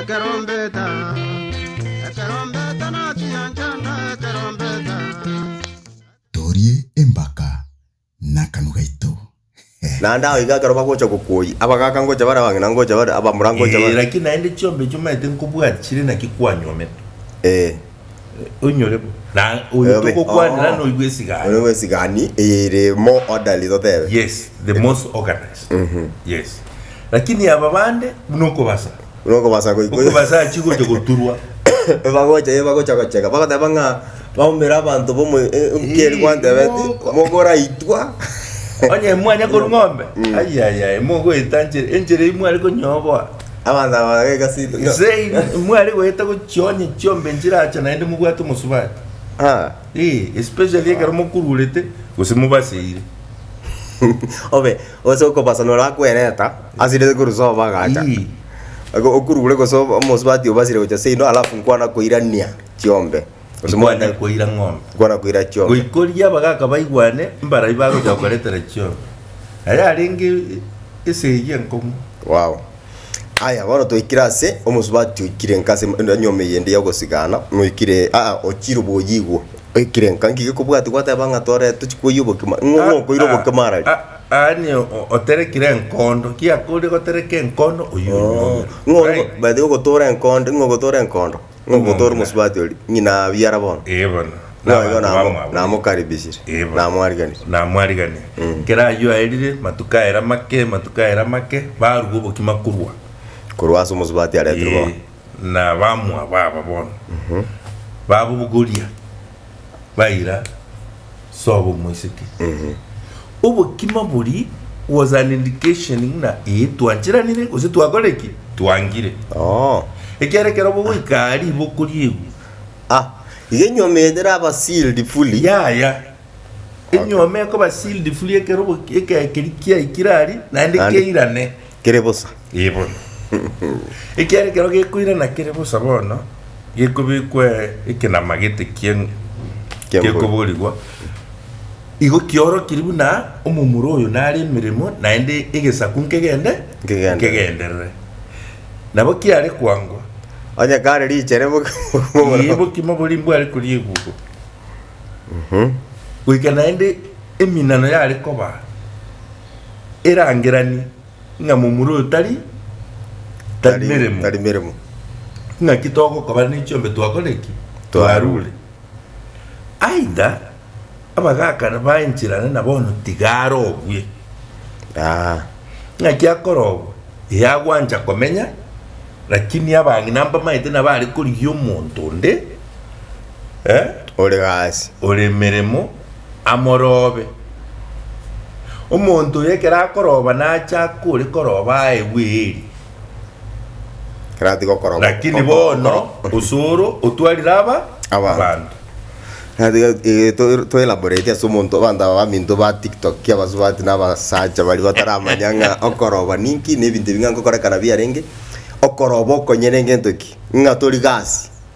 Ekerombeta, ekerombeta nachiya nchanda ekerombeta. Torie embaka nakanu gaito. Naende ao iga ekero bagocha gokuoi, abagaaka ngocha bare abang'ina ngocha bare abamura ngocha Ee, bare. lakini naende chiombe echi omaete nkobwati chire naki kwanyuomete? Ee. Oinyore bo. Na oyo Oyobe. togokwanera Oh. noigwe esigani. Oyobe esigani ere more orderly totebe. Yes, the most organized. Yes. Lakini aba bande buna okobasa. Buna okobasa goiko. Okobasa achi gocha goturwa. Ebagocha ye bagocha gocheka bagoteba ng'a baumera abanto bomo nkeri gwantebe ti Moko. mogoraitwa. Onye mwanya korwa ng'ombe. Ayayaya mogoeta enchera enchera eyio mware konyoboa. Abanto aba baga egasi ito. Nse in- mware goeta gochionya chiombe nchiracha naende mobwate omosubati Ah. Eh, especially ekero mokururete gose mobaseire Obe ose okobasa nora akwereta asire korusa obagacha. Ii. Ako okurure gose omosubati obasire gocha seino alafu nkwana koirania chiombe. Gose mwaenda koira ng'ombe. Mokwana koira chiombe. Goikoria abagaka baigwane mbarai bagocha gokoretera chiombe. Aye arenge esegi enkong'u. Wow. Aya, bono toikire ase omosubati oikire nka ase enyomba eyende y'ogosigana, noikire aa ochire oboyigwa, oikire nka nki gekobwati gwateba ng'a tore tochi koyia obokima, ng'o ng'o okoira obokima arari? A- a- Aani o- oterekire enkondo, kiakoria gotereka enkondo oyio onyuomere. Ng'o Right. by the way ogotoora enkondo, ng'o ogotoora enkondo? Nomonto ore omosubati oria, ng'ina abwo ara bono. Ee bono. Na Boigo abanto namo- bamwabwire. namokaribishire, Ee bono. namwariganire. Namwariganire. Mm. Kera ayio aerire, matuko aye amake, matuko aye amake, barua obokima korwa. Korwa ase omosubati aretirwe Ee, bono. na bamwabo aba bono. Babobogoria. baira sobo omoiseke. Obokima bori was an indication ng'na ee twancheranire gose twakore ki? Twangire. Ekiagera ekero bogoika aa riboko ri'egwe. Ah, iga enyuoma eye teraba sealed fully. Yaya. Enyuoma ekoba sealed fully ekero ekero keria kiaikire aria naende keirane. kere bosa. Ee bono. Ekiagera ekero gekoirana kere bosa bono, gekobekwa ekenama gete kie Ki'embori. gekoborigwa, igo kiorokiri buna omomura oyo nare emeremo, naende egesaku nkegende Nkegenderere. nkegenderere. Nabo kiare koangwa, Onye kare richere bo- ee, obokima boria mbware koria ebugo. Goika naende eminano yare koba. erangeranie ng'a momura oyo tari tari meremo. tari meremo. Ng'aki togokabana ne chiombe twakore ki? Twarure. Aidha, abagakana baencherane na bono tiga arogwe. Aa. Ng'aki akorogwa? Ee agwancha komenya, lakini abang'ina mbamaete nabo are korigia omonto onde, eh, Ore gasi. ore meremo. amorobe. Omonto oyo ekero akoroba nache akore koroba aye bweri. Ekero atiga okoroba. Lakini bono osoro otwarire aba abanto. Toelaborate ase omonto abanto aba baminto ba tiktok abasubati na abasacha baria bataramanya ng'a okoroba ninki na ebinto ebi ng'a nkokorekana biarenge. Okoroba okonyene ngento ki? Ng'a tori gasi.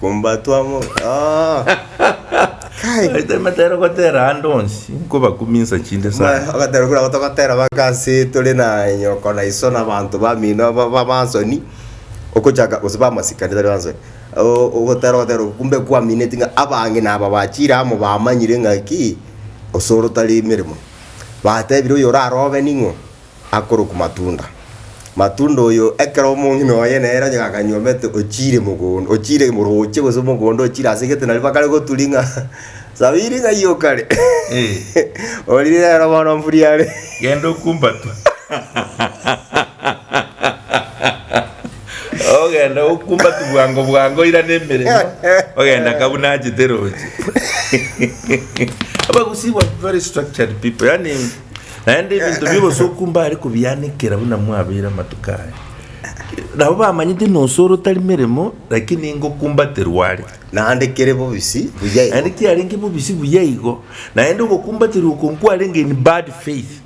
Kombatwa mo. Ah. Kai. Baito emetero gotera ande onsi, nkobakuminsa chinde Maya, sana. agatera kura gotogotera baka ase tore na nyoko na iso na abanto bamino aba- aba- bansoni okochaka gose bamasikani tari bansoni O- ogotera ogotera kumbe kwaminetie ng'a abange naba bachire amo bamanyire ng'a ki, osore otari emeremo. Batebire oyorare obe ning'o, akorokwa Matunda. Matunda oyo ekero omong'ina oye nere onye gakanyuomete ochiire mogondo, ochiire morooche gose omogondo ochiire ase egete nario bakare goturi ng'a sabiri ng'ai okare orire rero bono mburi are Genda okumbatwe. Ogenda okumbatwe bwango bwango oirane emeremo ogenda ka buna achete roche. Abagusii were very structured people, yaani Naende ebinto bi'obosoku mbare kobianekera buna mwabeire amatuko aya. Nabo bamanyete ng'a osore otari meremo, lakini ingo okumbaterwa are. Naende kere bobisi buya igo. Naende kiarenge bobisi buya igo. Naende ogokumbaterwa okwo nkwarenge in bad faith,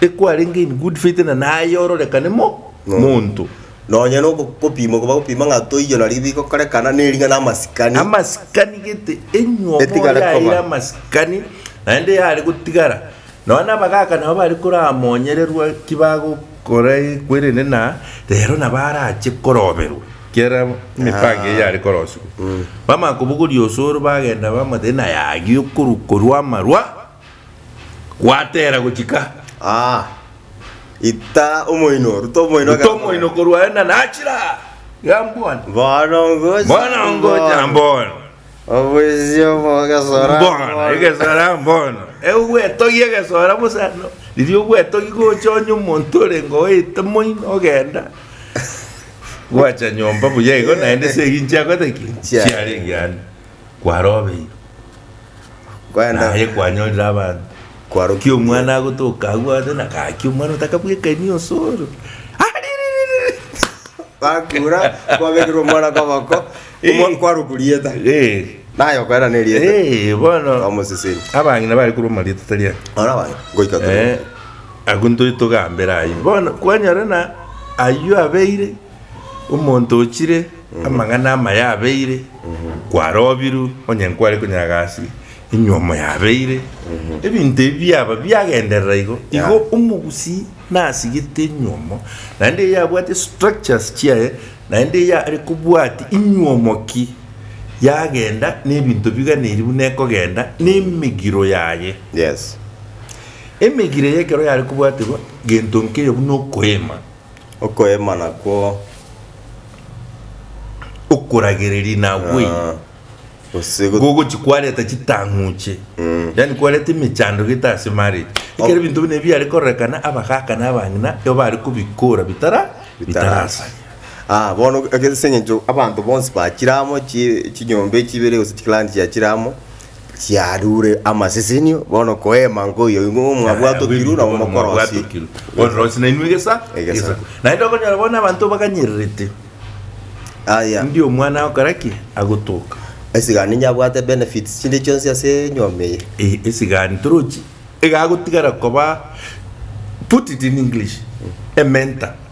tekwarenge in good faith, na naye ororekane mo monto. Nonya nogopima okoba gopima ng'a toiyo nari bigokorekana, nering'ana amasikani. Amasikani gete, enywomo Etigare koba. yaire amasikani, naende yare gotigara. Nonya abagaka nabo bare koramonyererwa ki bagokorekwa erinde na rero nabo arache koroberwa kiera emipango eye yare korosigwa. Bamanya kobogoria osoro bagenda bamwate naye agiye okorwa korwa amarwa. Gwateera gochika Aa, ita omoino, ruta omoino ruta gamba. omoino korwa aye, na nachira gambwane. Bono ngocha. Bono ngocha mbono. Obwisio bw'ogesora Mbono, mbono. egesora mbono. Egwetogia egesora bosa no. Riria ogwetogia gocha onye omonto orenge oete moino ogenda. Gwacha nyomba buya igo naende ase eginchia gotaki. Chia. Chiarenge ande. kwarobeirwe, Kwenda- naye kwanyorire abanto. Kwaro- Ki omwana agotoka agwo ase na gaki omwana otakabwekani osoro. Ariririri! Bakura, kwabekerwa omwana koboko, omwa- Eh. kwaruku rieta. Eh, Naye okwera ne rieta. eh, bono Bamoseseni. abang'ina bare korwa omarieta tari aya. Ora bana, ngoika toro. Eh, agwo ntoe togambere ayio bono kwanyora na ayio abeire Omonto ochire amang'ana amaya abeire kwarobirwe, onye nkware konyaga ase enyuo moyabeire. Ebinto ebi biaba biagenderera igo, igo omogusii nasigete enyuomo naende eyi yabwate structures chiaye naende eyi are kobwati enyuomo ki yagenda na ebinto biganeiri buna ekogenda na emegiro yaye. Yes. Emegiro eye ekero yare kobwaterwa gento nkeiyo buna okoema. Okoemana kwo okoragereria nagwe ah, gose go- gogochi kwareta chitang'uche yani kwareta emechando gete ase marriage ekero ebinto buna ebiare kororekana abagaka na abang'ina nigo bare kobikora bitara bitarasa Ah, bono ase eng'encho abanto bonsi bachire amo, chi- chinyomba echi ibere gose chiclan chiachire amo chiarure amasesenio, bono koema nkoiyo igo Yaya, mwabwatwe abwo kiru ebinto nabo bono mokorosi. mwabwatwe kiru. Ororosi nainwe egesa Egesa. egesa. Naende okonyora bono abanto baganyererete Aya, ndi omwana agokora ki agotoka esigani nyabwate benefits chinde chionsi ase enyomba eye. Eh, esigani torochi egagotigara koba put it in english a mentor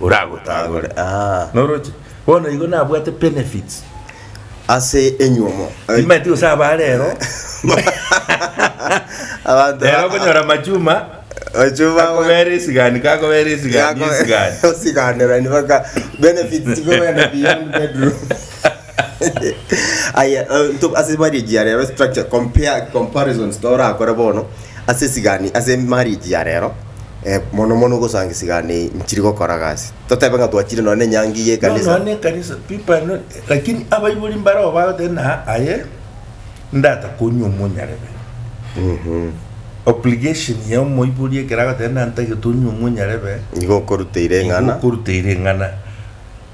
oragotagore aa noroche bono igo nabwate benefits ase enyuomo timanyeti gose aba rero abanto rero okonyora machuma ochuma akobera esigani kakobera esigani esigani osiganera ni baka benefits chikogenda beyond bedroom Aya, eh, nto- ase marriage ya rero structure compare comparisons torakore bono ase esigani ase marriage ya rero eh, mono mono gosanga esigani eye nchiri gokora gasi totebe ng'a twachire nonye na enyangi ya No, no, ekanisa ne kanisa people are not, lakini abaibori mbarao bagoteba na aye ndata konywa omonyarebe obligation ya omoibori ekero agoteba na ntagete onywe omonyarebe nigo okoruteire eng'ana okoruteire eng'ana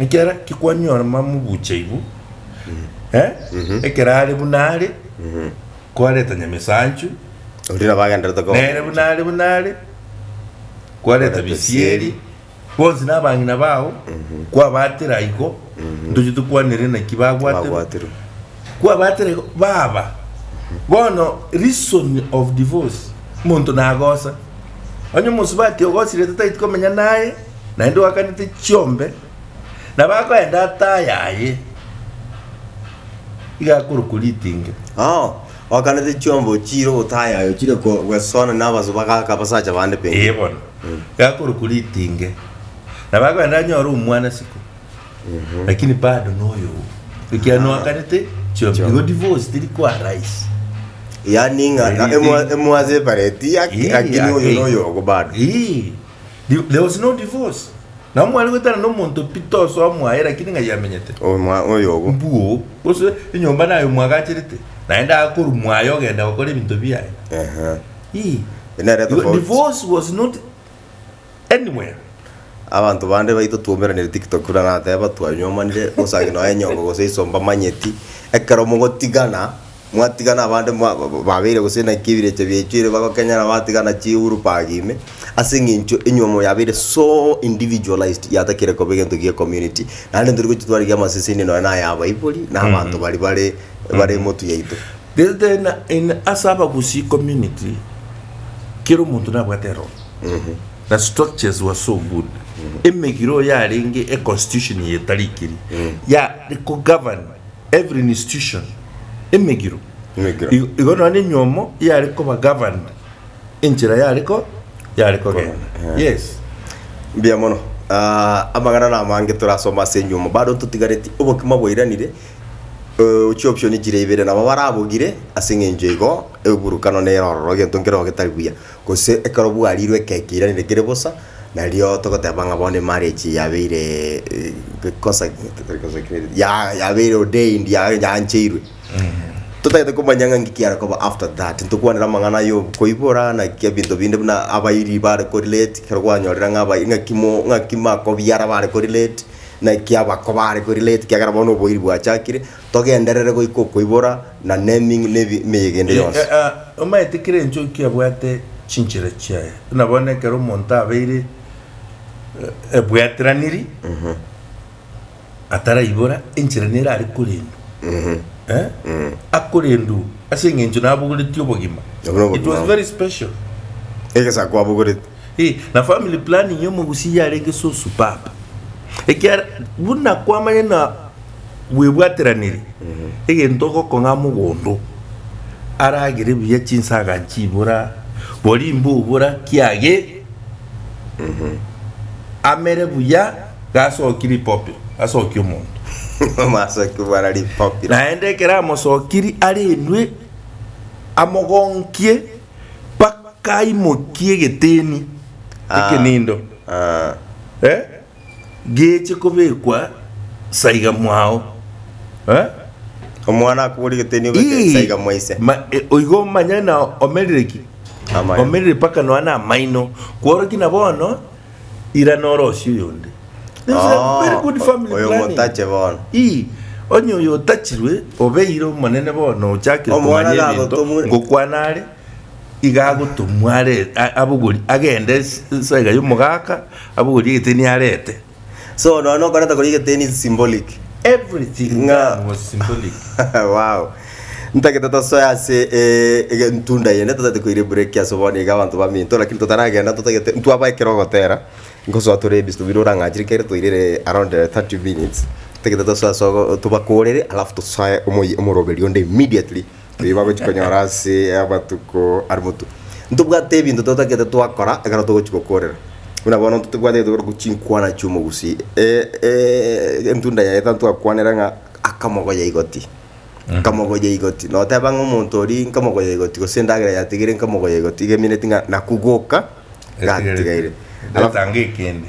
Ekero kikwanyora mamubuche igu, eh, ekero are buna are, kwareta Nyamesanchu, Oria nabo agenderete koba nere buna are buna are, kwareta Bisieri, bonsi nabang'ina bao, kwabatera aiko, ntoche tokwanere naki bagwaterwe. Bagwaterwe. Kwabatera aiko, baba. Bono reason of divorce, monto nagosa. Onye omosubati ogosirete tageti komenya naye, naende oakanete chiombe, na bakoenda ataa yaye, iga akorokwa ritinge. Oo, oakanete chiombe ochiire otaa yaye, ochire ko- gweswana na abaso bagaaka abasacha bande pengine. Eye bono, iga akorokwa ritinge, na bakoenda anyore omwana siko, lakini bado noyo oo, ekiagera oakanete chiombe. Igo divorce teri koa rahisi. Yaani ng'a Eri- emwa- eri- emwasepareti yake, Eri lakini oyo yake. noyo ogo bado. Ii. Di- There was no divorce. Nabo mware goetana na omonto pi tosoa mwaye lakini ng'ai amenyete. Omwa oyo obo. Mbuo. Gose enyomba naye omwagacherete. Naende akoru mwaye ogenda gokora ebinto biaye. Ehe. Ii. Nere Igo tofauti. divorce was not anywhere. Abanto bande baito twaumeranire tiktok buna nateba twanyomanire gose aye noe nyongo gose isomba manyeti ekero mogotigana. Mwatigana abande mwa- ba- ba- babeire gose naki ebirecha biachuire bagokenyera batigana chiurupaga ime, ase eng'encho enyomo yabeire so individualised yatakire koba egento gie community. Naende tori gochia twarigee amaseseni nonya na aya abaibori, na abanto baria bare bare emotu yaito. Gese tari na in ase abagusii community, kera omonto nabwate erooro, na structures were so good, emegiro yarenge econstitution ye tari ekeri, ya ko govern. Every institution, emegiro, Emegiro. igo igo nonya enyomo yare koba governed enchera yare ko yare kogenda. Eh. Yes. Mbuya mono. Ah, amang'ana na amange torasoma ase enyomo. Bado totigareti obokima bwairanire, eh, chioption chire ibere nabo barabogire ase eng'encho igo eburukano nere ororo egento nkere oo getari buya. Gose ekero bwarirwe ekeki iranire kere bosa, nario togoteba ng'a bono emarriage yabeire gekosa ya yabeire ordained ya yaancheirwe. Totagete komanya ng'a nki kiare koba after that, ntokwanera amang'ana ya okoibora naki ebinto binde buna abairi bare ko relate, ekero gwanyorire ng'a abairi ng'aki mo ng'aki makobiara bare ko relate, naki abako bare ko relate ekiagera bono oboiri bwachakire. togenderere goika okoibora na nemeyegende yonsi. Omanyete kera enchoki ebwate chinchera chiaye, buna bono ekero omonto abeire ebwateraniri ataraibora, enchera nere are korendwa, akorendwa ase eng'encho nabogoretie obogima. It was very special. Egesako abogoretie. Ee, na family planning ya omogusia yarenge susu papa. Ekiara, buna kwamanya buna. bwebwateranire, egento ogokong'a mogondo aragere buya chinsaga nchibora, boria imbobora kiage amere buya gasoki ripopi asoki omonto. Amasoki bara ripopi. Naende ekero amosokiri arendwe amogonkie mpaka aimokie egeteni Ah. ekenindo. Ah. Eh? geche kobekwa saiga mwao. Eh? Omwana akobori geteni obeke Ii, saiga mwa ise. ma- e, oigo manya na omerire ki Amaino. omerire paka noa na amaino kworoki na bono ira norosia oyonde This is a Oh, very good family oyo planning. motache bono. Ii, onye oyo otachirwe obeire omonene bono ochakire Omwana komanya ebinto gagotomure. ngokwana are iga agotomwa are abogori agende saika y'omogaka abogori egeteni arete So nonya okoreta kori egeteni is symbolic. Everything ng'a was symbolic. wow. Ntagete tosoe ase eh, ege ntunda yende totagete koire break ase bono iga abanto baminto lakini totaragenda totagete ntwaba ekero ogotera nkosoa tore ebisi tobire orang'achire kere toirire around eh, 30 minutes totagete tosoe ase ogo tobakorere alafu tosoe omoyi omoroberio onde immediately Nigo bagochia konyora ase amatuko are motuko. Ntobwate ebinto totagete twakora ekero togochia gokorera. Buna bono intwe tobwate egento kegoetwa chinkwana chi'omogusi. Entunda yaye tari twakwanera ng'a akamogoya igoti, nkamogoya igoti. Noteba ng'a omonto oria nkamogoya igoti gose endagera yatigaire nkamogoya igoti iga emineti ng'a nakugoka gatigaire. Alafu. Ndetange ekende.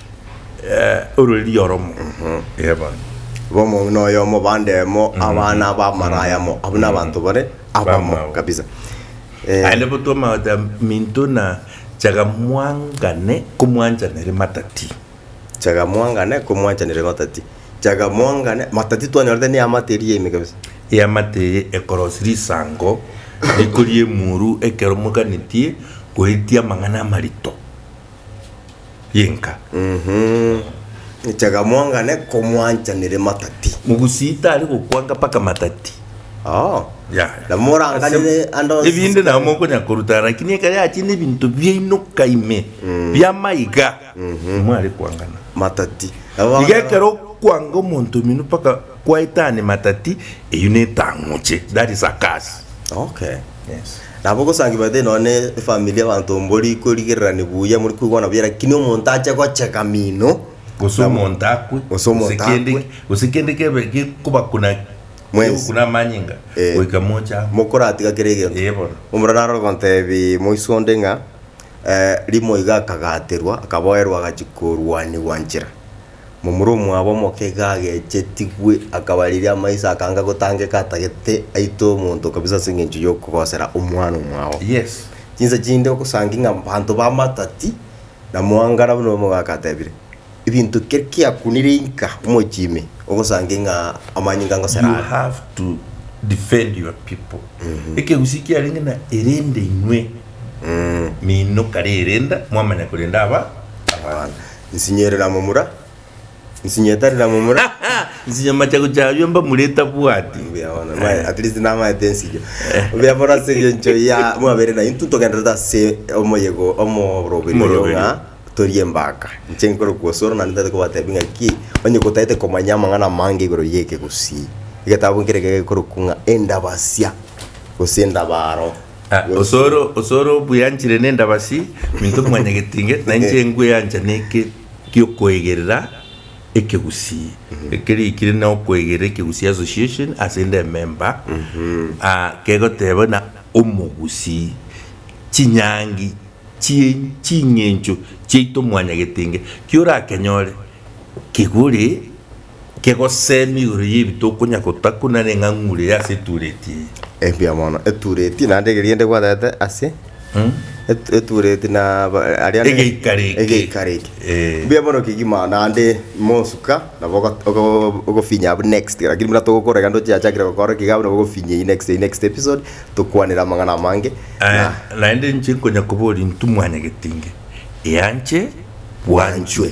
orwe rioromo. Ee bono. Igo omong'ina oyomo, bande emo, abana aba amaraya amo, abwo nabanto bare abamo Abamo. kabisa. Eh, Aye nabo twamagotea minto na chaga mwangane komwanchaneria matati. chaga mwangane komwanchaneria matati. Chaga mwangane, matati twanyorete ne eamate eria ime kabisa. Eamate eye ekorosia risango rikoria emuru ekero moganetie goetia amang'ana amarito. y'enka. Nchega mwangane komwancha nere matati. Mogusii tari gokwanga mpaka matati. Oh. Yaya. Na moranganire Ase- ande onsi ebinde nabo sikari. mokonya koruta lakini ekero yachire nebinto biainoka ime biamaiga nimware kwangana Matati. Nabo iga ekero okwanga omonto omino mpaka Kwaetani matati, eyio netang'uche, that is a curse. Okay. Yes. Nabo ogosangi baete nonya ne efamiri abanto mbori korigererani buya muri koigwana buya lakini omonto ache gocheka mino Gose nabo- omonto akwe. Gose omonto kende- akwe. Gose kende kebe gekobakuna Mwensi. gekokuna amanyinga Eh. goika moche amo. mokoratiga kera egento Eh, bono. omura narora ogotebi moiso onde ng'a eh, rimo iga akagaterwa akaboerwa agachia korwanigwa nchera Momura omwabo omoke iga agechetigwe akabariria amaiso akanga gotangeka atagete aitwe omonto kabisa ase engencho y'okogosera omwana omwao. Yes. Chinsa chinde ogosangi ng'a banto bamatati na mwangara buna omogaka atebire. Ebinto keri kiakunire inka omochie ime ogosange ng'a amanyinga ngosera You are. have to defend your people. Ekegusii kiarenge na erinde inwe mino kare erenda mwamanya korenda aba abana. Nsinye riramomura, nsinye etari riramomura. Nsinye amachagu chabio mbamure etabwati. Mbuya bono, maya, at least namaete ensinyo. Mbuya bono ase engencho ya mwabere na intwe togendererete ase omoyego omoroberio oyo Omoroberio. ng'a tori embaka. Inche nkore kwosoro naende ntagete kobatebia ng'aki, onye gotaete komanya amang'ana amange igoro y'eke gusii. Egetabu nkere ekero gekorokwa ng'a endabasia gose endabaro. Ah, Gose- osoro osoro obweanchire nendabasi minto mwanyagetinge na inche ngweancha neke giokoegerera ekegusii ekeri ekire na okoegerera ekegusii association ase inde ememba ah, kegoteba na omogusii chinyangi chie ching'encho chiaito mwanyagetinge kiorakenyore kegore Inki gosee migoro y'ebito okonya gotakwa nare eng'ang'ure eye ase etureti eye? Engiya mono, etureti naende egerienda egwaterete ase Mm. et- etureti na ba- aria ne- Egeikaro eke. egeikaro eke. Eh. Mbuya mono kegima naende mosuka nabo ogo- ogo- ogofinya abwo next lakini buna togokorera egento chiachakire gokora iga abwo nabo ogofinya eye next eye next episode tokwanere amang'ana amange Aye, na naende inche nkonya koboria intwe mwanyagetinge eanche bwanchwe